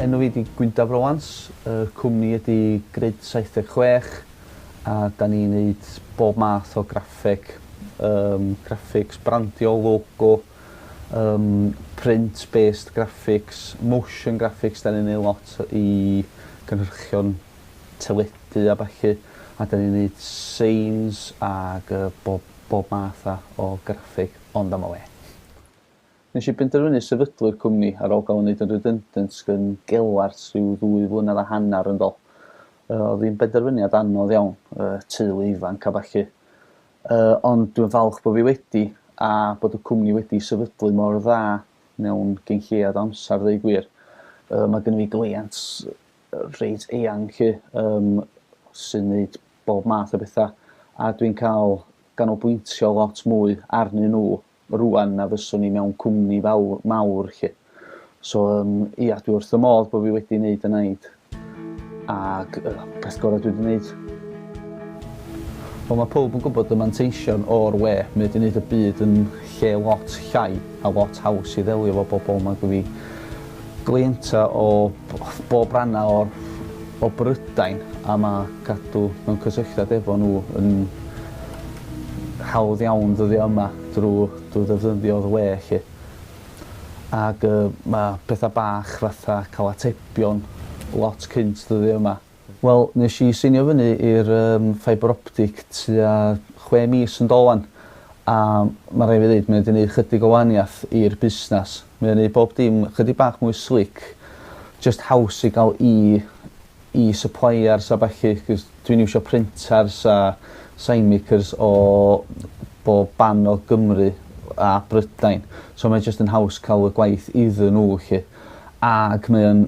Enw fi di Gwyndaf Rowans, y cwmni ydi Grid 76 a da ni'n neud bob math o graffeg, graphics, brandio, logo, Yym print based graphics, motion graphics 'dan ni'n neu' lot i cynhyrchion teledu a ballu a 'dan ni'n neud seins ag yy bob bob math a o graffeg ond am y we. Nesh i benderfynu sefydlu'r cwmni ar ôl ga'l 'yn neud yn redundant gyn Gelart rhyw ddwy flynadd a hannar yn dol. Yy o'dd 'i'n benderfyniad anodd iawn yy teulu ifanc a ballu. Yy ond dwi'n falch bo fi wedi, a bod y cwmni wedi sefydlu mor dda mewn cyn lleiad o amser ddeu gwir. Yy ma gynno fi gleiant reit eang 'lly yym sy'n neud bob math o betha a dwi'n ca'l ganolbwyntio lot mwy arnyn nhw rŵan na fyswn i mewn cwmni fawr, mawr 'lly. So yym ia dwi wrth fy modd bo' fi wedi neud y naid ag y peth gora' dwi 'di neud. Wel ma' powb yn gwbod y manteision o'r we, mae o 'di neud y byd yn lle lot llai a lot haws i ddelio 'fo bobol nag i fi. Cleientau o bob rhannau o'r o Brydain a mae cadw mewn cysylltiad efo nhw yn hawdd iawn ddyddiau yma drwy drwy ddefnyddio'r we 'lly. Ag yy mae pethau bach fatha cael atebion lot cynt ddyddiau yma. Wel, nes i seinio fyny i'r yym fibre optic tua chwe mis yn dôl 'wan, a ma' raid fi ddeud mae o 'di neud chydig o waniath i'r busnas. Mae o'n neud bob dim chydig bach mwy slick, jyst haws i ga'l i i suppliers a ballu 'c'os dwi'n iwsio printers a sign makers o bob ban o Gymru a Brydain, so mae jyst yn haws ca'l y gwaith iddyn n'w 'lly. Ag mae o'n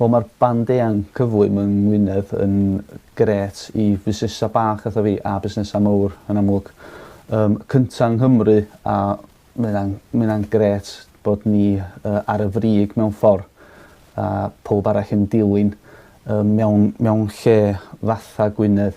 Wel ma'r band eang cyflym yng Ngwynedd yn grêt i fusnesa bach fatha fi a busnesa mowr yn amlwg. Yym cynta yng Nghymru a ma' ynna'n ma' ynna'n grêt bod ni yy ar y frig mewn ffor a powb arall yn dilyn yym mewn mewn lle fatha Gwynedd.